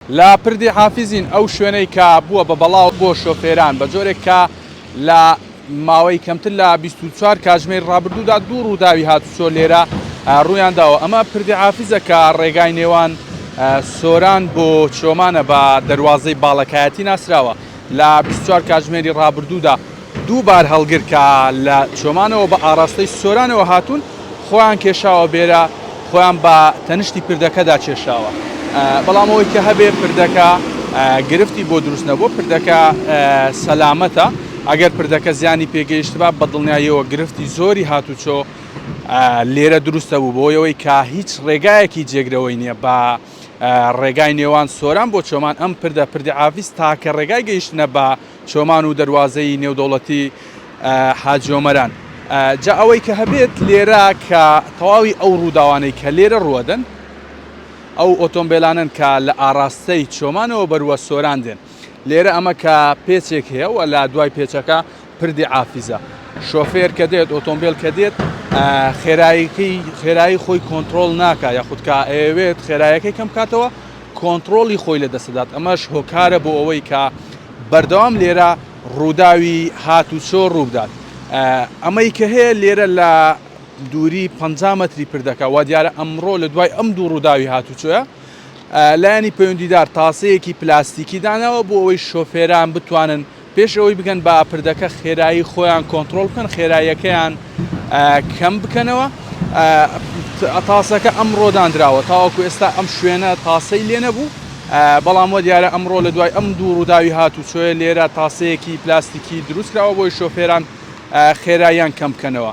لە پردی حافزین ئەو شوێنەی کە بووە بە بەڵاو بۆ شۆفێران بە جۆرێک کە لە ماوەی کەمتر لە بیست و چوار کاتژمێری ڕابردوودا دوو ڕووداوی هاتوچۆ لێرە ڕوویان داوە ئەمە پردی حافزە کە ڕێگای نێوان سۆران بۆ چۆمانە بە دەروازەی باڵەکایەتی ناسراوە لە بیست و چوار کاتژمێری ڕابردوودا دوو بارهەڵگر کە لە چۆمانەوە بە ئاڕاستەی سۆرانەوە هاتوون، خۆیان کێشاوە بێرە، خۆیان بە تەنشتی پردەکەدا چێشاوە. بەڵام ئەوەی کە هەبێ پردەکە گرفتی بۆ دروست نەبووە، پردەکە سەلامەتە. ئەگەر پردەکە زیانی پێ گەیشتبا، بە دڵنیاییەوە گرفتی زۆری هاتوچۆ لێرە دروست دەبوو، بەهۆی ئەوەی کە هیچ ڕێگایەکی جێگرەوەی نییە بە ڕێگای نێوان سۆران بۆ چۆمان، ئەم پردە، پردی عافیز، تاکە ڕێگای گەیشتنە بە. چۆمان و دەروازەی نێودەوڵەتی حاجی ئۆمەران. جا ئەوەی کە هەبێت لێرە کە تەواوی ئەو ڕووداوانەی کە لێرە ڕووەدەن ئەو ئۆتۆمبێلانەن کە لە ئاڕاستەی چۆمانەوە بەروە سۆران دێن لێرە ئەمە کە پێچێک هەیە و لە دوای پێچەکە پردی عافیزە شۆفێر کە دێت ئۆتۆمبێل کە دێت خێراییکەی خێرایی خۆی کۆنتترۆل ناکە یاخود کە ئەوێت خێرایەکەی کەم کاتەوە کۆنتڕۆڵی خۆی لە دەست دەدات، ئەمەش هۆکارە بۆ ئەوەی کە بەردەوام لێرە ڕووداوی هاتوچۆ ڕووبدات، ئەمەی کە هەیە لێرە لە دووری پەنجا مەتری پردەکە، وادیارە ئەمڕۆ لە دوای ئەم دوو ڕووداوی هاتوچۆیە لایەنی پەیوەندیدار تاسەیەکی پلاستیکی داناوە بۆ ئەوەی شۆفێران بتوانن. پێش ئەوەی بگەن بە پردەکە خێرایی خۆیان کۆنترۆڵ بکەن خێراییەکەیان کەم بکەنەوە تاسەکە ئەمڕۆ دانراوە تاوەکو ئێستا ئەم شوێنە تاسەی لێ نەبوو بەڵام وە دیارە ئەمڕۆ لە دوای ئەم دوو ڕووداوی هات و چۆیە لێرە تاسەیەکی پلاستیکی دروستکراوە بۆی شۆفێران خێراییان کەم بکەنەوە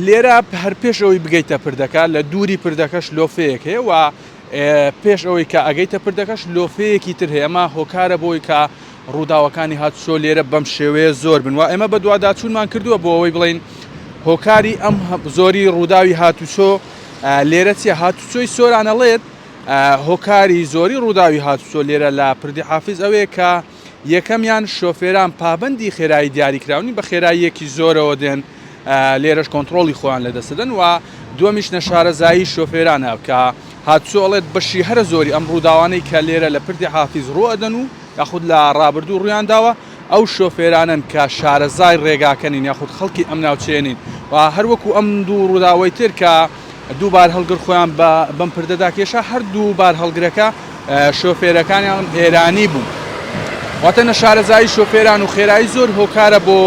لێرە هەر پێش ئەوەی بگەیتە پردەکە لە دووری پردەکەش لۆفەیەک هەیە و پێش ئەوەی کە ئەگەیتە پردەکەش لۆفەیەکی تر هەیەمە هۆکارە بۆی کە ڕووداوەکانی هاتوچۆ لێرە بەم شێوەیە زۆر بن و ئێمە بەدواداچوونمان کردووە بۆ ئەوەی بڵێین هۆکاری ئەم زۆری ڕووداوی هاتوچۆ لێرە چیە هاتوچۆی سۆرانەڵێت هۆکاری زۆری ڕووداوی هاتوچۆ لێرە لە پردی حافز ئەوەیە کە یەکەمیان شۆفێران پابندی خێرایی دیاریکراونی بە خێراییەکی زۆرەوە دێن لێرەش کۆنتترۆڵی خۆیان لە دەستدەن و دومیش نەشارەزایی شۆفێرانە کە هاتوچۆڵێت بەشی هەرە زۆری ئەم ڕووداوانەی کە لێرە لە پردی حافیز ڕوئدەن و یاخود لە ڕابردوو ڕوویان داوە، ئەو شۆفێرانەن کە شارەزای ڕێگاکە نین یاخود خەڵکی ئەم ناوچەیە نین و هەر وەکو ئەم دوو ڕووداوەی تر کە دوو بارهەڵگر خۆیان بە بەم پردەدا کێشا، هەردوو بارهەڵگرەکە شۆفێرەکانیان ئێرانی بوون. واتە نەشارەزایی شۆفێران و خێرایی زۆر هۆکارە بۆ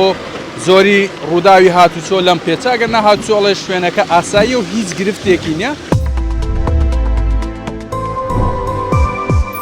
زۆری ڕووداوی هاتوچۆ لەم پێچە، ئەگەرنا هاتوچۆ ئەڵێ شوێنەکە ئاساییە و هیچ گرفتێکی نییە.